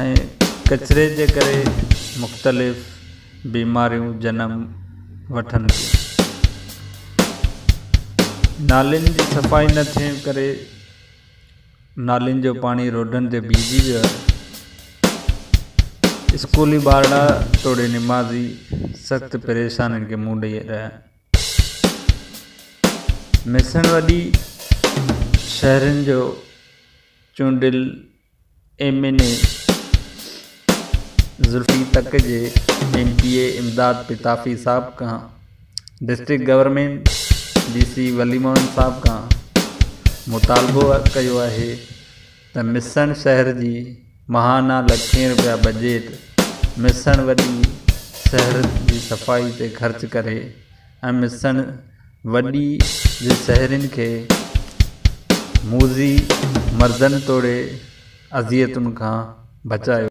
۽ ڪچري جي ڪري مختلف بيماريون جنم وٺن ٿيون. نالين جي صفائي نه ٿيڻ ڪري نالين جو پاڻي روڊن تي بيهجي ويو آهي. اسڪولي ٻارڙا توڙي نمازي سخت پريشانين کي منهن ڏئي رهيا آهن. ميسڻ وڏي شهرين جو چونڊيل ايم اين اي زلفي تڪ جي M P A Imdad Pitafi صاحب کان district government D C Wali Muhammad صاحب کان مطالبو ڪيو آهي ته مسڻ شهر جي ماهانا لکين روپيا بجيٽ مسڻ وڏي شهر جي صفائي تي خرچ ڪري ۽ مسڻ وڏي جي سهرين کي موذي مردن توڙي اذيتن کان بچايو.